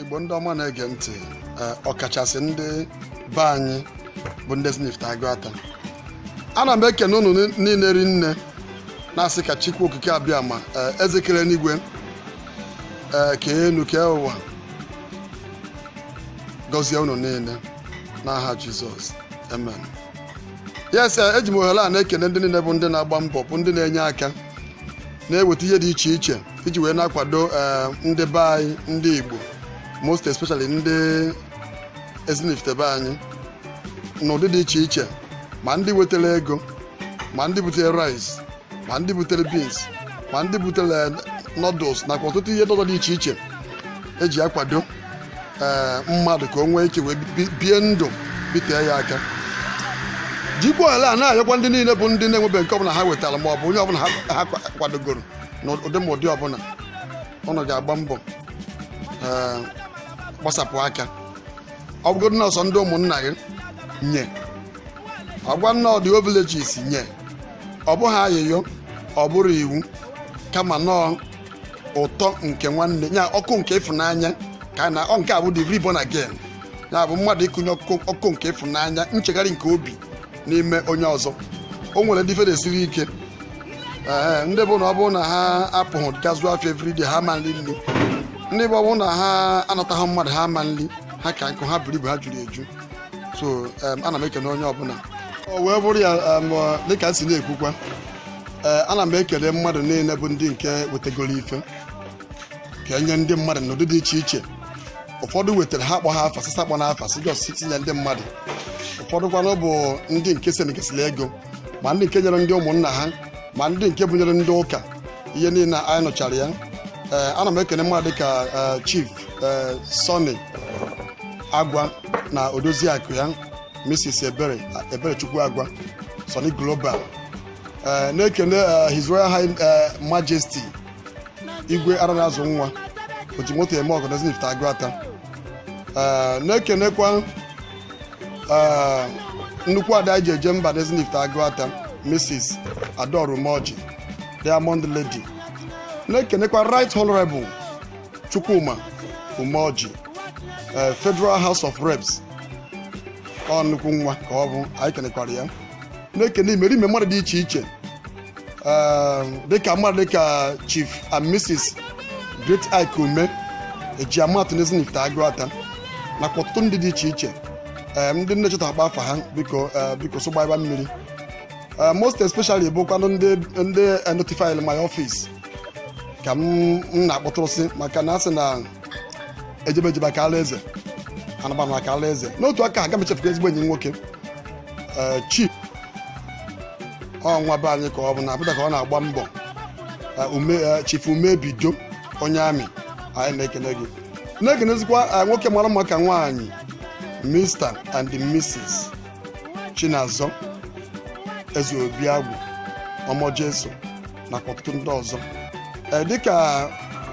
igbo ndị ọma na-ege ntị eh, ọkachasị ndị be anyị bụ ndị Ezinifite Agụata ana m ekene unu niile rinne na-asị ka Chukwu okike abịama eh, eze kere enigwe eh, kee enu kee ụwa gọzie unu niile n'aha jizọs amen yes eji m ohere a na-ekene ndị niile bụ ndị na-agba mbọ bụ ndị na-enye aka na-eweta ihe dị iche iche iji wee na-akwado eh, ndị be anyị ndị Igbo most especially ndị Ezinifite be anyị n'ụdị dị iche iche ma ndị wetara ego ma ndị butere rice ma ndị butere beans ma ndị butere noodles nakwa ọtụtụ ihe ndị ọzọ dị iche iche eji akwado ee mmadụ ka o nwee ike wee bi- bie ndụ bitee ya aka jikwa ohere a na-ayọkwa ndị niile bụ ndị na-enwebeghị nke ọbụla ha wetara ma ọ bụ onye ọbụla ha ha kwa- kwadogoro n'ụdị ma ụdị ọbụla unu ga-agba mbọ ee, gbasapụ aka ọ bụgodị na ọ sọ ndị ụmụnna gị nye ọgwa na ọ ndị villages nye ọ bụghị ayịyọ ọ bụrọ iwu kama na ọ ụtọ nke nwanne ya ọkụ nke ịfụnanya ka na ọ nke a bụ the reborn again ya bụ mmadụ ịkụnye ọkụ ọkụ nke ịfụnanya nchegharị nke obi n'ime onye ọzọ o nwere ndị ife siiri ike ee ndị bụ na ọ bụrụ na ha apụghị gaa zụọ afịa everyday ha ma nri nri ndị bụ ọ bụrụ na ha anataghị mmadụ ha ma nri ha ka nkụ ha buru ibu ha juru eju so em, ana m ekene onye ọbụla o wee bụrụ ya em, dịka m si na-ekwukwa ee ana m ekele mmadụ niile bụ ndị nke wetegoro ife ka e nye ndị mmadụ n'ụdị dị iche iche ụfọdụ wetara ha akpọha afa sị sị akpọna afa sị just nye ndị mmadụ ụfọdụ kwanụ bụ ndị nke sendịgasịrị ego ma ndị nke nyere ndị ụmụnna ha ma ndị nke bunyere ndị ụka ihe niile anyị nụchara ya ee ana m ekele mmadụ dịka ee, chief ee, Sunny agwa na odoziakụ ya mrs ebere eberechukwu agwa Sunny global Eh, na-ekene eh, his royal high eh, majesty igwe ara na-azụ nwa oji moto eme ọgọ n'Ezinifite Agụata Eh, na-ekenekwa eh, nnukwu ada anyị ji eje mba n'Ezinifite Agụata mrs Adaora Umeoji diamond lady na-ekenekwa right honorable Chukwuma Umeoji eh, federal house of reps ọ nnukwu nwa ka ọ bụ anyị kenekwara ya na-ekene imerime mmadụ dị iche iche eh, dịka mmadụ dịka chief and mrs great ike ume eji ama atụ n'ezinifite agụata nakwa ọtụtụ ndị dị iche iche eh, ndị m na-echeta akpa afa ha biko eh, biko so gbaiba mmiri Eh, most especially bụkwanụ ndị ndị eh, notified my office ka m m na-akpọtụrụsị maka na asị na ejebe eje akaala eze anaba ana akaala eze n'otu aka aga m echefukwa ezigbo enyi m nwoke ee chief ọnwa be anyị ka ọ bụ na abụta ka ọ na-agba mbọ Ee, ume ee, chief umebido onye army anyị na-ekene gị na-ekenezikwa ee, nwoke mara mma ka nwaanyị mr and mrs chinazọ ezeobiagwu ọmọ jesu nakwa ọtụtụ ndị ọzọ ee dịka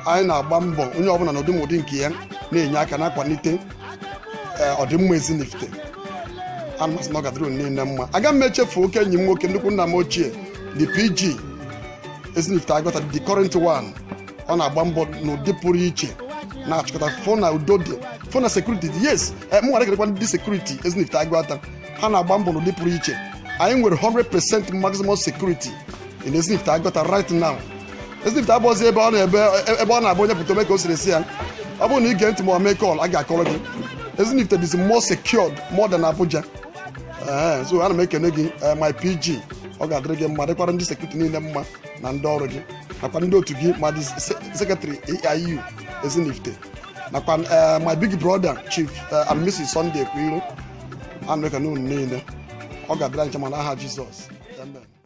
anyị na-agba mbọ onye ọbụla n'ụdị ma ụdị nke ya na-enye aka na-akwalite eh, ọdịmma ezinifite ana m asị na ọ ga-adịrị unu niile mma aga m echefu oke enyi m nwoke nnukwu nna m ochie the pg ezinifite agụata the current one ọ na-agba mbọ n'ụdị pụrụ iche na-achịkọta fụ na udo dị fụ na sekuriti dị yes eh, mụ nwere kenekwa ndị sekuriti ezinifite agụata ha na-agba mbọ n'ụdị pụrụ iche anyị nwere 100% maximum security in ezinifite agụata right now ezinifite abụọzi ebe ọ na-ebe ebe ọ na-abụ onye pụta o mee ka o siri sọ ya ọ bụrụ na ị gee ntị ma ọ mee call a ga-akọrọ gị ezinifite dịzi more secured more than abuja ee so ana m ekene gị eh, my pg ọ ga-adịrị gị mma dịkwara ndị sekuriti niile mma na ndị ọrụ gị nakwa ndị otu gị ma the secretary aiu ezinifite nakwa eh, my big brother chief eh, and mrs sunday kwiro ana m ekene unu niile ọ ga-adịrị anyị ncha mma n'aha jizọs amen